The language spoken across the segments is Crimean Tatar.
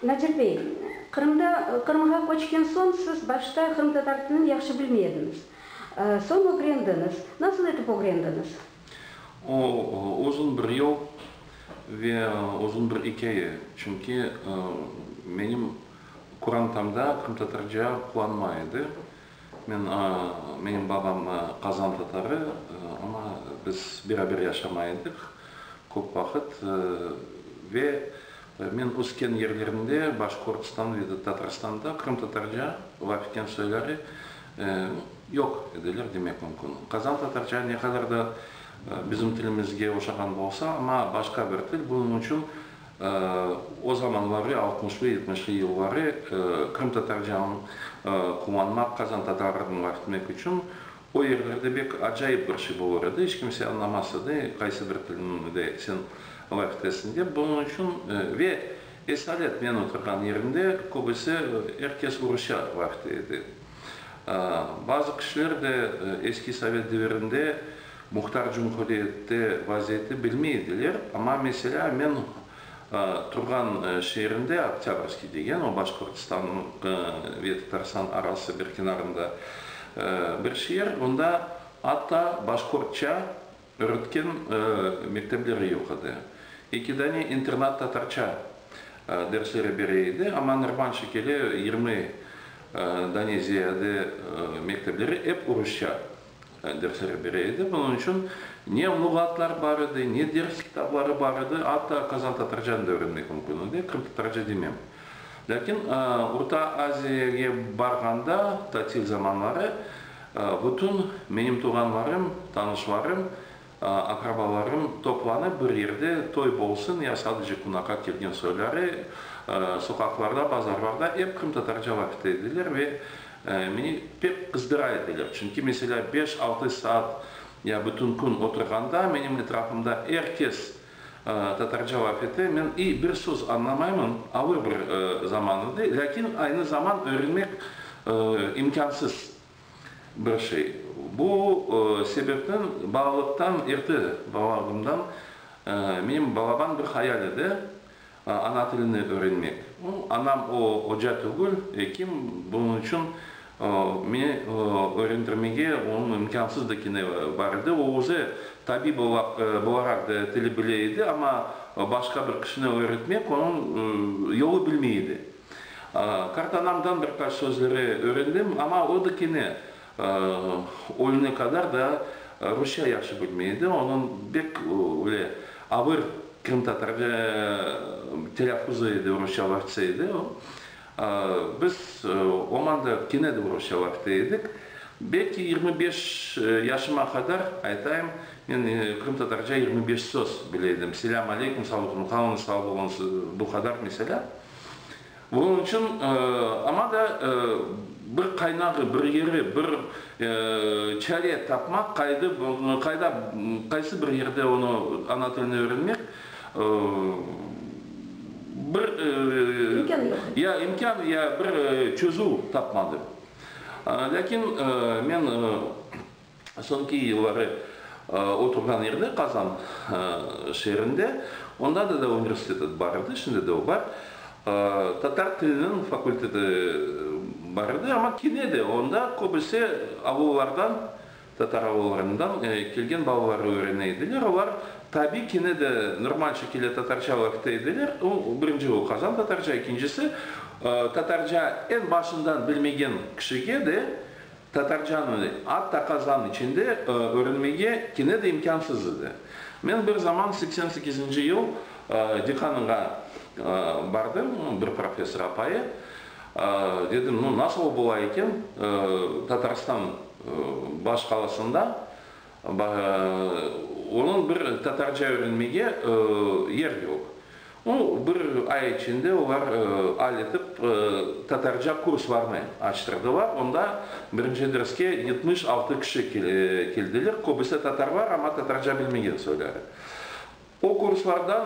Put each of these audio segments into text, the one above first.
Nadir bey, Qırımda, Qırımğa köçken soñ siz başta qırımtatar tilini yahşı bilmey ediñiz. Soñ ögrendiñiz. Nasıl etip ögrendiñiz? O, uzun bir yol ve uzun bir ikâye. Çünki menim qurantamda qırımtatarca qullanma edi. Men, menim babam Qazan tatarı, amma biz beraber yaşamay edik köp vaqıt. Ve men ösken yerlerimde, Başkortstan ve de Tatarstanda qırımtatarca laf etken soyları yoq ediler demek mümkün. Qazan tatarca ne qadar da bizim tilimizge oşağan bolsa, amma başqa bir til, bunıñ içün O zamanları, altmışlı-yetmişli yılları, qırımtatarcanı quvanmaq, qazantatarı dıñlartmak içün o yerlerde bek acayip bir şey bolur edi, iç kimse añlamas edi, qaysı bir tilinde sen laf etesin dep. Bunıñ içün ve esalet men oturğan yerimde köbüsi, er kes rusça laf ete edi. Bazı kişiler de eski sovet devirinde, Muhtar cumhuriyette vaziyeti bilmey ediler, amma, meselâ, men turğan şeerinde, Oktâbrskiy degen, o Başqortostannıñ ve Tatarıstan arası bir kenarında bir şeer, onda atta başqortça öretken mektepleri yoq edi. Eki dane internat tatarça dersleri bere edi, amma normal şekeli yirmi dane ziyade mektepleri ep rusça. Dersler bere edi. Bunıñ içün ne luğatlar bar edi, ne ders kitapları bar edi. Atta qazan-tatarcanı da öğrenmek mümkün edi, qırımtatarca demem. Lâkin Orta Aziyege barğanda, tatil zamanları, bütün menim tuvğanlarım, tanışlarım Aqrabalarım toplanıp bir yerde, toy bolsun ya sadece qunaqa kelgen soyları, soqaqlarda, bazarlarda ep qırımtatarca laf ete ediler ve meni pek qızdıra ediler. Çünki, meselâ, beş-altı saat ya bütün kün oturğanda, menim etrafımda er kes tatarca laf ete, men iy bir söz añlamaymın, ağır bir zaman edi, lâkin aynı zaman öğrenmek imkânsız. Bir şey. Bu sebepten balalıqtan erte balalıgımdan menim balaban bir hayal edi, ana tilini öğrenmek. Anam o oca tügül, ekim, bunıñ içün meni öğrendirmege onıñ imkânsız dikeni bar edi. O özü tabib olaraq da tili bile edi, amma başqa bir kişini öğretmek onıñ yolu bilmey edi. Qartanamdan bir qaç sözleri öğrendim, amma o da kene ölüne qadar da rusça yahşı bilmey edi, onıñ bek öyle avır qırımtatar telâffuzu edi, rusça vaqtsa edi o. Biz omanda kene de rusça vaqta edik. Belki yirmi beş yaşıma qadar, aytayım, men qırımtatarca yirmi beş söz bile edim, selâm aleyküm, sağ olun, qalñız sağ olun, bu qadar, meselâ. Onıñ içün, aña da bir qaynağı, bir yeri, bir çare tapmaq, qayda, qayda, qaysı bir yerde onı, ana tilini öğrenmek, bir, ya imkân, ya bir çözüv tapmadı. Lâkin men Soñki yılları oturğan yerine Qazan şeerinde, onda da universitet bar edi, şimdi de o bar, tatar tiliniñ fakulteti bar edi, amma kene de onda köbüse avullardan, tatar avullarından kelgen balalar öğrene ediler, olar tabiy kene de normal şekilde tatarca ögte ediler, birinci o Qazan tatarca, ekincisi tatarca eñ başından bilmegen kişige de Tatarcanı atta Qazan içinde öğrenmege kene de imkânsız edi. Men bir zaman seksen sekizinci yıl dekanıña bardım, bir professor apayı, dedim, nu, nasıl bola eken, Tatarstan baş qalasında Onıñ bir tatarca öğrenmege yer yoq. O, bir ay içinde olar al etip tatarca kurslarnı açtırdılar. Onda birinci derske yetmiş altı kişi keldiler. Köbüsi tatarlar, amma tatarca bilmegen soyları. O kurslardan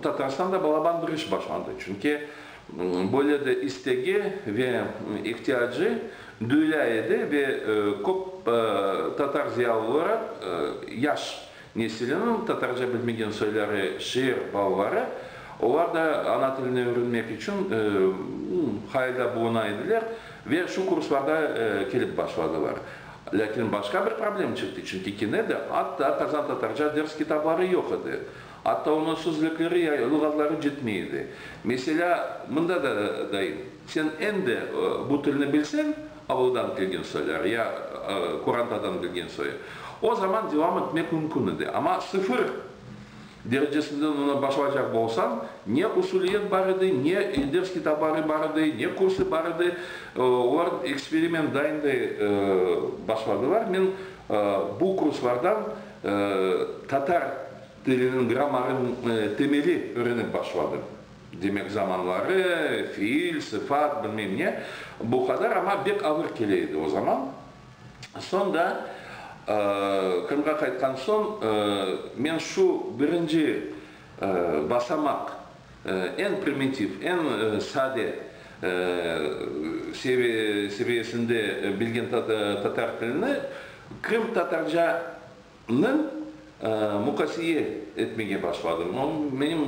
Tatarstanda balaban bir iş başlandı, çünki böyle de istegi ve ihtiyacı duyula edi ve köp tatar ziyalıları yaş nesiliniñ tatarca bilmegen soyları, şiir balaları, olar da ana tilini ögrenmek içün hayalda buluna ediler ve şu kurslarda kelip başladılar. Lâkin başqa bir problem çıqtı, çünki kene de atta qazantatarca ders kitabları yoq edi, atta onıñ sözlükleri ya luğatları cetmey edi. Meselâ, mında da dayım, sen endi bu tilni bilseñ, avuldan kelgen soylar ya Kurantadan kelgen soy, o zaman devam etmek mümkün edi, amma sıfır! derecesinden oña başlaycaq bolsañ, ne usuliyet bar edi, ne ders kitabarı bar edi, ne kursı bar edi. Olar eksperiment dayınday başladılar. Men bu kurslardan tatar tiliniñ grammarınıñ temeli öğrenip başladım. Demek, zamanları, fiil, sıfat, bilmem ne. Bu qadar, amma bek ağır kele edi o zaman. Soñ da, Qırımğa qaytqan soñ, men şu birinci basamaq, eñ primitiv, eñ sade seviyesinde bilgen tatar tilini, qırımtatarca, Ni muqasiye etmege başladım. Menim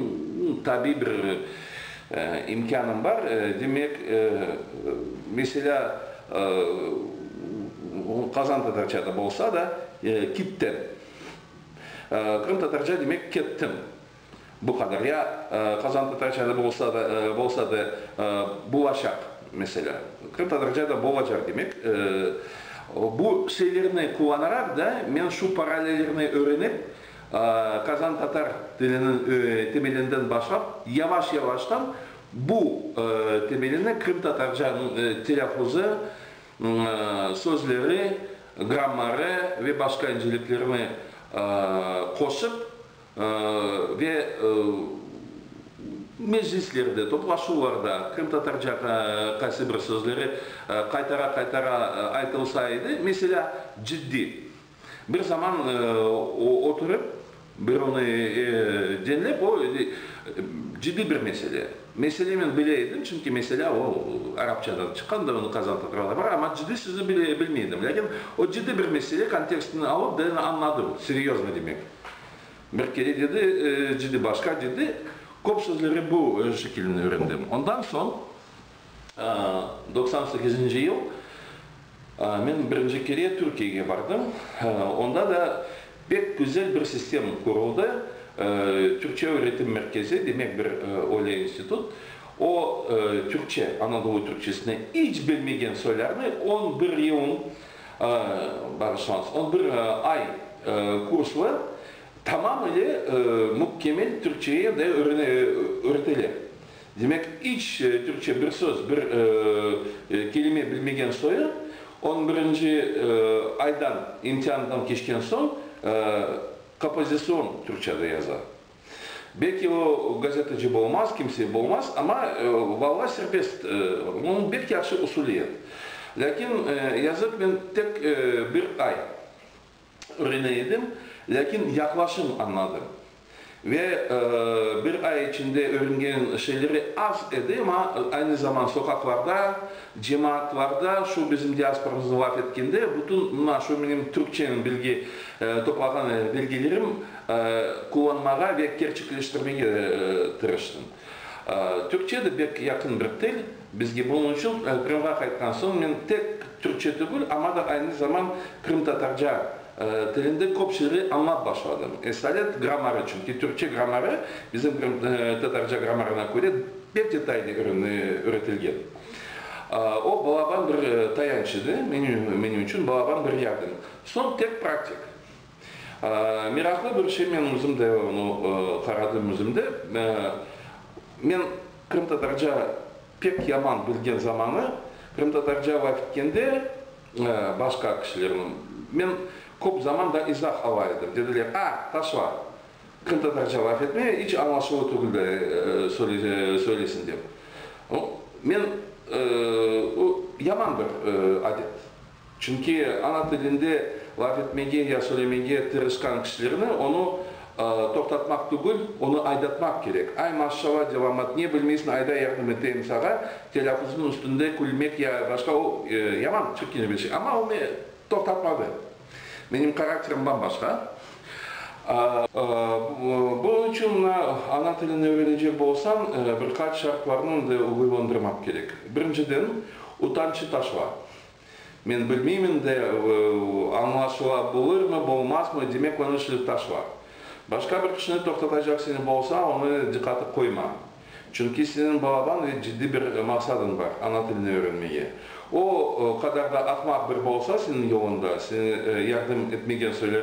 tabiy bir imkânım bar. Demek, meselâ, qazantatarca da bolsa da, kittim. Qırımtatarca demek, kettim. Bu qadar, ya Qazan Tatarcada bolsa da bulacaq, meselâ, Qırım Tatarcada bolacaq demek. Bu şeylerni qullanaraq da men şu paralellerni öğrenip, Qazan Tatar tiliniñ temelinden başlap, yavaş-yavaştan bu temelini Qırım Tatarcanıñ telâffuzu, sözleri, grammarı ve başqa inceliklerini qoşıp, Ve meclislerde, toplaşuvlarda qırımtatarca qaysı bir sözleri qaytara-qaytara aytılsa edi, meselâ, ciddiy. Bir zaman oturıp, bir onı diñlep, o, ciddiy bir mesele. Mesele men bile edim, çünki meselâ o, arapçadan çıqqandı, onı qazan tatralar var, amma ciddiy sözü bilmey edim. Lâkin o ciddiy bir mesele kontekstini alıp, derin añladım, seryozno demek. Bir kere dedi, cidi başqa dedi, köp sözleri bu şekilnen öğrendim. Ondan soñ, doqsan sekizinci yıl, men birinci kere Türkiyege bardım. Onda da pek güzel bir sistem quruldı, Türkçe öğretim merkezi, demek bir öyle institut. O, Türkçe, Anadolu Türkçesini iç bilmegen soylarnı on bir yıl, Bağışlañız, on bir ay kurslı tamam ile mükemmel türkçeye de öğretele. Demek, iç türkçe bir söz, bir kelime bilmegen soyu, on birinci aydan, imtiandan keçken soñ, kopozitsion türkçede yaza. Belki o gazeteci bolmaz, kimse bolmaz, amma valla serbest, onıñ bek yahşı usuliyet. Lâkin yazık, men tek bir ay örene edim, lâkin yaqlaşım añladım. Ve bir ay içinde örengen şeyleri az edi, amma aynı zaman soqaqlarda, cemaatlarda, şu bizim diasporamıznı laf etkende, bütün mına şu menim türkçenin bilgi toplağan belgelerim, Qullanmağa ve kerçekleştirmege tırıştım. Türkçe de bek yaqın bir til bizge, bunıñ içün Qırımğa qaytqan soñ men tek türkçe tügül, amma da aynı zaman qırımtatarca tilinde köp şeyleri añlap başladım. Esalet, grammarı, çünki türkçe grammarı bizim qırımtatarca grammarına köre bek detaylı öğretilgen. O, balaban bir tayanç edi, menim içün balaban bir yardım. Soñ tek praktik. Meraqlı bir şey, men özüm de onı qaradım özüm de. Men qırımtatarca pek yaman bilgen zamanı, qırımtatarca laf etkende başqa kişilerniñ, men köp zaman da izah ala edim. Dediler, a, taşla, qırımtatarca laf etme, iç añlaşuvlı tügül de söyleysiñ, dep. Men, yaman bir adet. Çünki ana tilinde laf etmege ya söylemege tırışqan kişilerni onı toqtatmaq tügül, onı aydatmaq kerek. Ay, maşşala, devamat, ne bilmeysiñ, ayda yardım eteyim sağa, telâffuznıñ üstünde külmek ya başqa, o, yaman çirkine bir şey. Amma o meni toqtatmadı. Menim karakterim bam-başqa. Bunıñ içün ana tilini ögrenecek bolsañ, bir qaç şartlarnı indi uyğunlandırmaq kerek. Birinciden, utancı taşla. Men bilmeymen de, añlaşıla bulırmı, bulmazmı, demek, onı şilip taşla. Başqa bir kişini toqtatacaq seni bolsa, onı diqqatı qoyma. Çünki seniñ balaban ve ciddi bir maqsadıñ bar, ana tilini öğrenmege. O qadar da aqmaq bir bolsa seniñ yolunda, seni yardım etmegen soylar,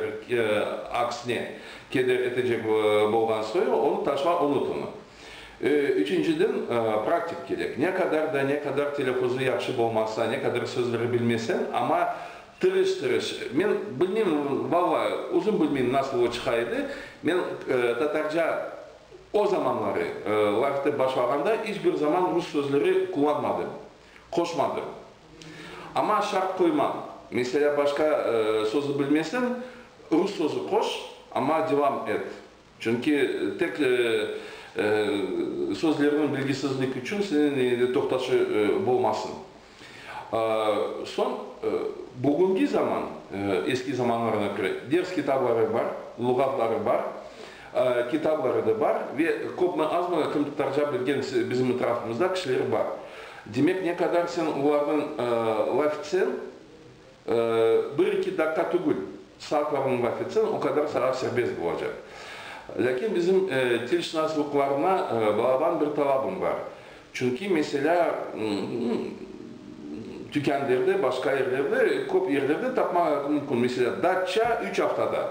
aksine, keder etecek bolğan soy, onı taşla, unut onı. Üçünciden, praktik kerek. Ne qadar da, ne qadar telâffuzu yahşı bolmasa, ne qadar sözleri bilmesen, amma tırış-tırış, men bilmeyim, valla, özüm bilmeyim, nasıl o çıqa edi, men tatarca o zamanları lafete başlağanda iç bir zaman rus sözleri qullanmadım, qoşmadım. Amma şart qoymam. Meselâ, başqa sözü bilmesen, rus sözü qoş, amma devam et. Çünki tek sözlerniñ bilgisizlik içün seniñ eñinde toqtaşı bolmasın. Soñ, bugünki zaman, eski zamanlarğa köre, ders kitabları bar, luğatları bar, kitabları da bar ve köpmi-azmi qırımtatarca bilgen bizim etrafımızda kişiler bar. Demek, ne qadar sen olarnıñ laf etseñ, Bir-iki daqqa tügül, saatlarnıñ vaqıt sen, o qadar saat serbest bolacaq. Lâkin bizim tilşınaslıqlarına bağlan bir talabım bar. Çünki, meselâ, tükânlerde, başqa yerlerde, köp yerlerde tapmağa mümkün. Meselâ, datça, üç aftada,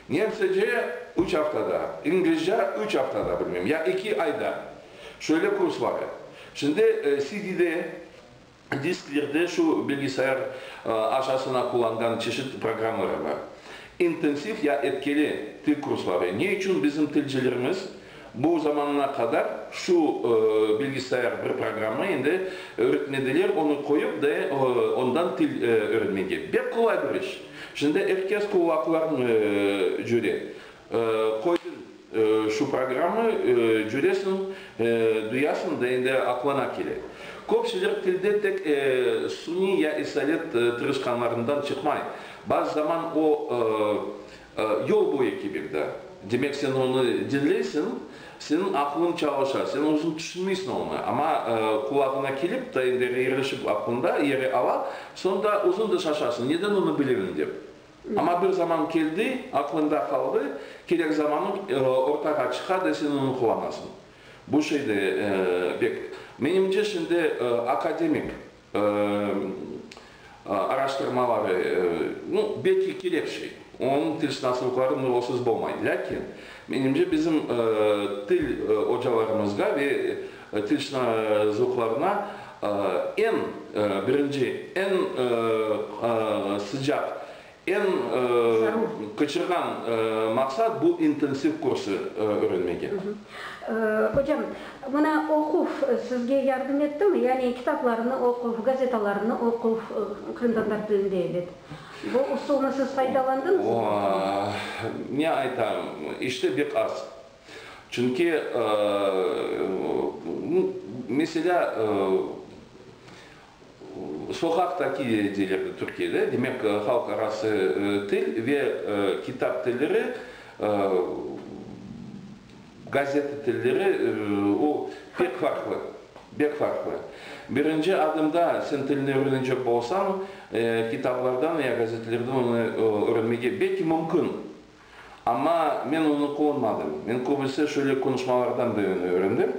nemsece, üç aftada, inglizce, üç aftada, bilmem, ya iki ayda, şöyle kursları. Şimdi, CD-de. Disklerde şu bilgisayar aşasına qullanğan çeşit programmalar bar. İntensiv ya etkili til kursları, ne içün bizim tilcilerimiz bu zamana qadar şu bilgisayar bir programma endi öretmediler, onı qoyıp da ondan til örenmege? Bek qolay bir iş. Şimdi er kes quvvaqlarını cöre. Qoydın şu programmı, cüresiñ, duyasıñ da endi aqlana kele. Köpsüler tilde tek suniy ya isalet tırışqanlarından çıqmay. Bazı zaman o, yol boyu kibik da. Demek, sen onı diñleysiñ, seniñ aqlıñ çalışa, sen özüñ tüşünmeysiñ onı, amma qulağına kelip, ta endi rerişip aqlında yeri ala, soñ da özüñ da şaşasıñ, neden onı bilemiñ dep. Amma bir zaman keldi, aqlında qaldı, kerek zamanı ortağa çıqadı ve sen onı quvanasıñ. Bu şey de pek. Menimce, şimdi akademik araştırmaları, nu, belki kerek şey, onıñ tilşınaslıqları nurlısız bolmay. Lâkin, menimce, bizim til ocalarımızğa ve Tışnı zövqlarına eñ birinci, eñ sıcaq, eñ qıçırğan maqsat, bu intensiv kursı öğrenmege. Ocam, mına oquv sizge yardım ettimi? Yani kitaplarnı oquv, gazetalarnı oquv, qırımtatar tilinde, elbet. Bu usulnı siz faydalandınızmı? O, ne aytam, işte bek az. Çünki, meselâ, soqaqtaki deylerdi Türkiyede, demek, halq arası til ve kitap tilleri, gazeta tilleri, o, pek farqlı, pek farqlı. Birinci adımda sen tilni ögrenecek bolsañ, kitaplardan ya gazetelerden onı ögrenmege belki mümkün, Amma men onı quvunmadım. Men köbüse şöyle qonuşmalardan biriñ öğrendim.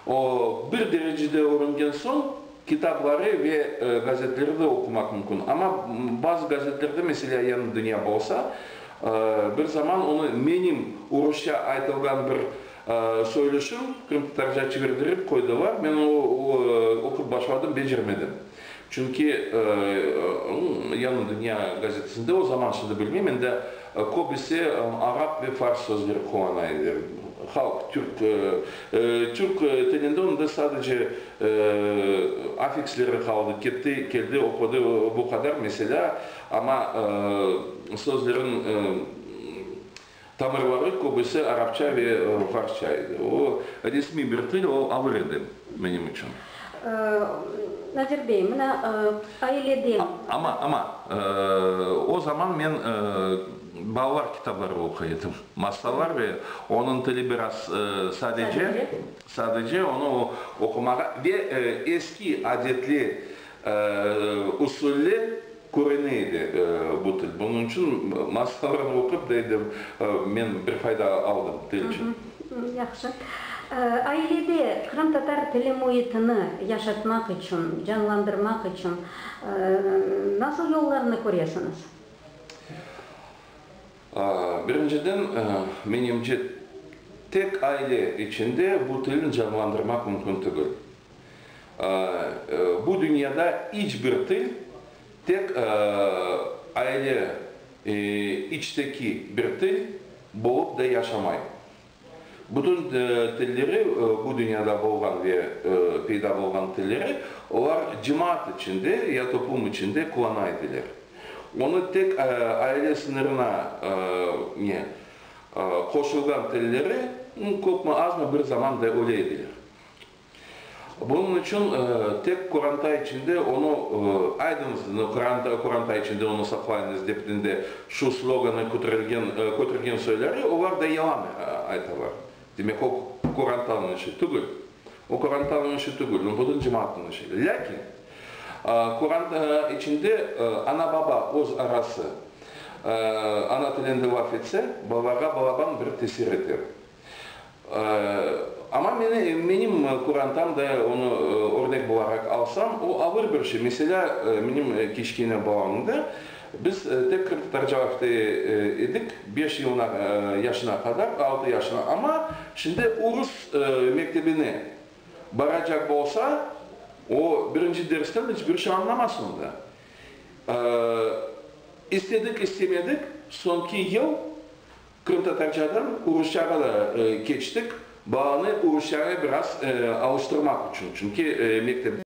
O, bir derecede öğrengen soñ, kitapları ve gazetleri de oqumaq mümkün. Amma bazı gazetlerde, meselâ, Yañı dünya bolsa, bir zaman onı menim urusça aytılğan bir soylüşim qırımtatarca çevirdirip qoydılar. Men onı oqup başladım, becermedim. Çünki Yanı dünya gazetesinde o zaman, şimdi bilmeyim, endi köbisi arap ve fars sözleri qulana edi. Halq, türk, türk tilinde onda sadece afiksleri qaldı, ketti, keldi, oqudı, bu qadar, meselâ, amma sözlerin Tamırları köbüsi arapça ve farsça edi. O, resmiy bir til, o ağır edi menim içün. Nadir bey, mına, aileden. Amma, amma, o zaman men balalar kitabları oquy edim. Masallar ve onıñ tili biraz sadece, sadece onı oqumağa ve eski adetli, usulli. Körene edi bu til. Bunıñ içün masqaranı oqup da edim. Men bir fayda aldım til içün. Yahşı. Ailede qırımtatar tili müitini yaşatmaq içün, canlandırmaq içün nasıl yollarnı köresiñiz? Birinciden, menimce, tek aile içinde bu tilni canlandırmaq mümkün tügül. Bu dünyada iç bir til tek aile içteki bir til bolıp da yaşamay. Bütün tilleri, bu dünyada bolğan ve peyda bolğan tilleri olar cemaat içinde ya toplum içinde qullana ediler. Onı tek aile sıñırına ne qoşulğan tilleri köpmi-azmi bir zaman da öle ediler. Bunıñ içün tek qoranta içinde onı aydıñız, qoranta içinde onı saqlayıñız, dep dinde şu sloganı kötürgen soyları olar da yalan aytalar. Demek, o qorantanıñ işi tügül. O qorantanıñ işi tügül, o bütün cemaatnıñ işi. Lâkin qoranta içinde ana-baba öz arası ana tilinde laf etse, balalarğa balaban bir tesir eter. Amma meni, menim qurantam da onı örnek bolaraq alsam, o ağır bir şey. Meselâ, menim kiçkene balamda biz tek qırımtatarca ögte edik, beş yılına, yaşına qadar, altı yaşına. Amma şimdi urus mektebine baracaq bolsa, o birinci dersten iç bir şey añlamaz onda. İstedik, istemedik, soñki yıl. Qırımtatarçadan urusçağa da keçtik, balanı urusçağa biraz alıştırmaq içün, çünki mektepte.